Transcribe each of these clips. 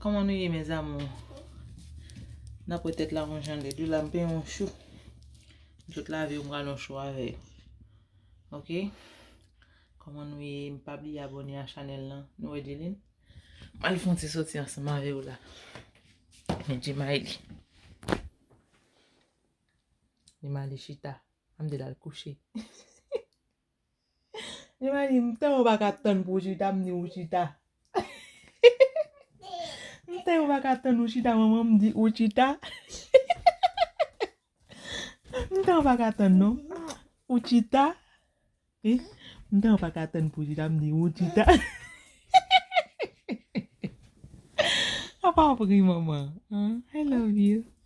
Koman nou ye mes amour. Nap wè tèt la yon jan lèd wi la m peye yon chou. M sot lave yo m pral yon chou avè yo. Ok Koman nou ye m pa bliye abone a chanèl lan nou wè Dyline. M pral fon ti soti ansanm avè w la. Men Djemaili. Djemaili chita. An m di l al kouche. Li va di m tèlman pa ka tann pou w chita m di ou chita. M tèlman pa ka tann ou chita manman m di ou chita. M tèlman pa ka tann non ou chita. M tèlman pa ka tann pou w chita m di ou chita. Apa w ap ri manman an? I love you.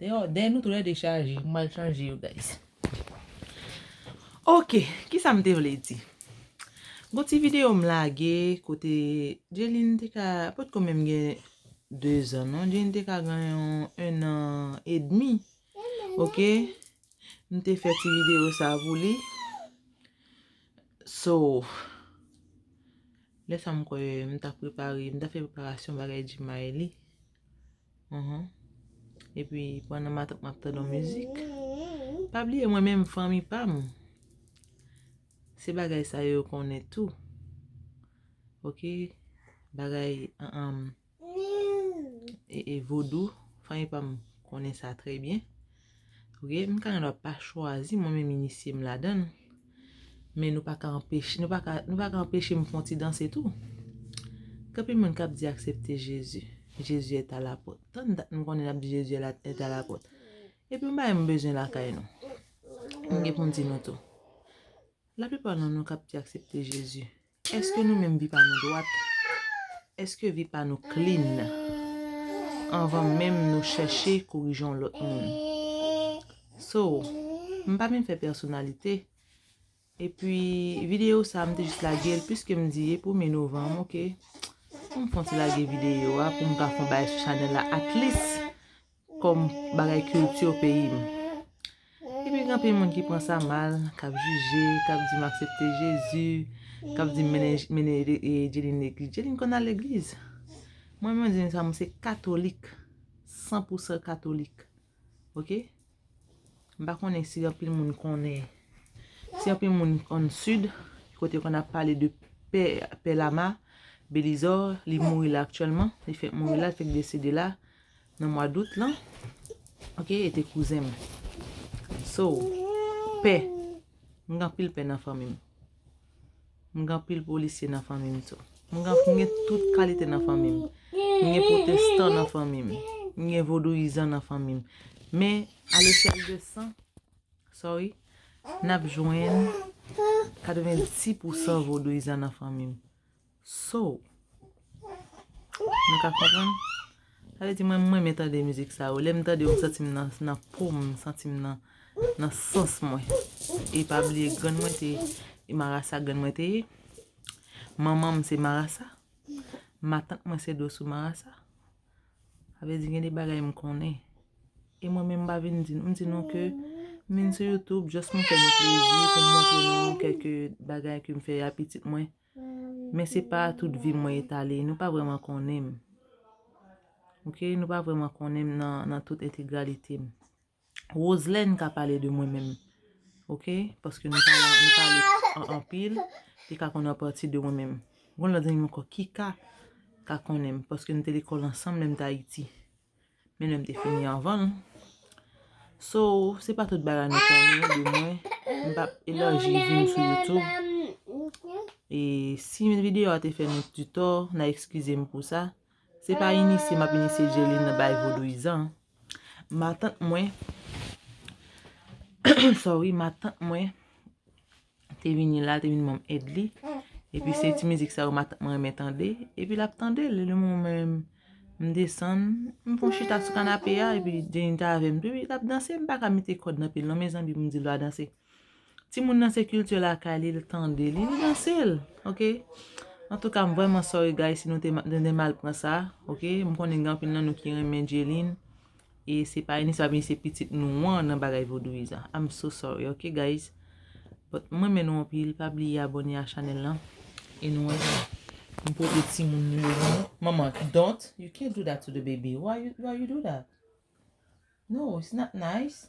Deyò dèy nou tou lè 2 chaje m pral chanje yo guys ok kisa m te vle di gon ti video m lage kote Dieline te ka potko menm gen 2 zan non Dieline te ka gen yon 1 an edmi ok m te fè ti video sa pou li so lè sa m kwè m ta prepare m ta fè preparasyon bagay di Maylie. Uhmm Epi pandan map tande yon mizik Pa bliye mwen menm fanmi pam Se bagay sa yo konnen tou Ok Bagay Vodou Fanmi pam konnen sa trè byen Ok m ka nan dwa pa chwazi mwen menm inisye m ladann men nou pa ka anpeche nou pa ka nou pa ka anpeche m fon ti danse tou Ganpil moun kap di aksepte Jezi Jezi est a la pòt tann dat m konnen nap di Jezi est la est a la pòt epi yon bagay m bezwen lakay nou m gen pou m di nou tou laplipa nan nou kap di aksepte Jezi Eske nou menm vi pa nou dwat? Eske vi pa nou clean? Anvan menm nou chèche korije yon lòt moun. So, m pa vin fè pèsonalite. Epi, videyo sa m te jis lage l piske m di e premye novanm ok. Pou m fon ti lage videyo a pou m ka fon bagay sou chanèl la at least. Kom bagay culture peyi m. Epi gen anpil moun ki pran sa mal, kap jije, kap di m aksepte Jezi, kap di m mennen Edeline legliz. Edeline konn al legliz. Mwen menm Edeline sa mwen se katolik, san pou san katolik. Ok? M pa konnen si anpil moun konnen, si anpil moun an sid, kote konn ap pale de pè, pè lama, belizò, li mouri la aktyèlman, li fèk mouri la, li fèk desede la. Nan mwa dout lan. Ok e te kouzen m. So pè. M gen anpil pè nan fanmi m. M gen anpil polisye nan fanmi m tou. M gen tout kalite nan fanmi m. M gen potestan nan fanmi m. M gen vodouyizan nan fanmi m. Men a lechèl de san. Sorry. N ap jwenn 90 pousan vodouyizan nan fanmi m. So. Nou ka konprann? Sa vle di mwen m renmen tande mizik sa yo. Lè m tande yo m santi m nan po m, m santi m nan sans mwen. E pa bliye grann mwen te e marasa grann mwen te ye. Manman m se marasa. Matant mwen se doso marasa. Sa vle di gen de bagay m konnen. E mwen menm m pa vin di nou. M di nou ke m vin sou YouTube just pou m fè nou plezi, pou m montre nou kèlke bagay ke m fè a pitit mwen. Men se pa tout vi m mwen etale, nou pa vreman konnen m. Ok, nou pa vreman konnen m nan tout entegralite m. Roselène ka pale de mwen menm. Ok, paske nou pa la, nou pa li an anpil, li ka konnen an pati de mwen menm. Gon lòt zanmi m ankò, Kika ka konnen m, paske nou te lekòl ansanm lè m t Ayiti. Men lèm te fini anvan l. So, se pa tout bagay nou konnen de mwen. M pa ap elarji vi m sou YouTube. E si yon videyo a te fè nou di tò, na ekskize m pou sa. Se pa inisye m ap inisye Dieulin nan bagay vodouyizan. Matant mwen, sorry, matant mwen. te vini la, te vini banm èd li, epi se ti mizik sa yo mwen renmen tande, epi lap tande l, le moman mwen menm m desann, m fon chita sou kanape a, epi Jenny ta avèm tou, epi lap danse, m paka mete kòd nan pye l non mezanmi pou m di l va danse, ti moun nan se kilti lakay li, li tande li, li danse l, ok, antouka m vrèman sorry guys si nou te mal pran sa, ok, m konnen gen anpil nan nou ki renmen J-Lyn. E se pa Eunice la byen se pitit nou wan nan bagay vodouyis a I'm so sorry ok guys But m renmen nou anpil pa bliye abone a chanel lan e nou wè jan m pote timoun nou yo nan manman don't you can't do that to the baby why you do that no it's not nice.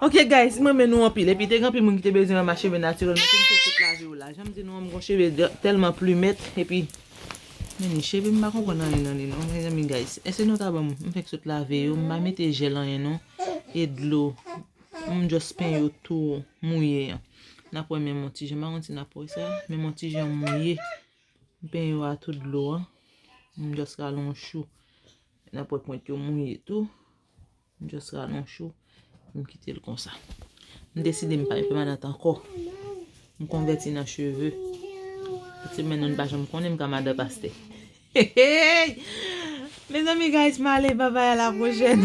Ok guys m renmen nou anpil epi te gen anpil moun ki te bezwen wè ma cheve naturel mwen finn fè tout lave yo la janm di nou an m gon cheve telman plumet epi mezanmi cheve m pa konprann anyen nan li non mezanmi guys eske nou ta banm m fenk sot lave yo m pa mete gel anyen non e dlo m just peny yo tou mouye an nap wè menm yon ti jan m pa konn si nap wè sa menm yon ti jan mouye m peny yo a tout dlo an m just rale yon chou nap wè pwent yo mouye tou. M just ralon chou pou m kite l konsa. M deside m pa yon pèmanant ankò. M konvèti nan cheve. Tout se men nan m pa janm konnen m ka madan pastè. Hehey! Mezanmi guys m ale babay a la pwochèn.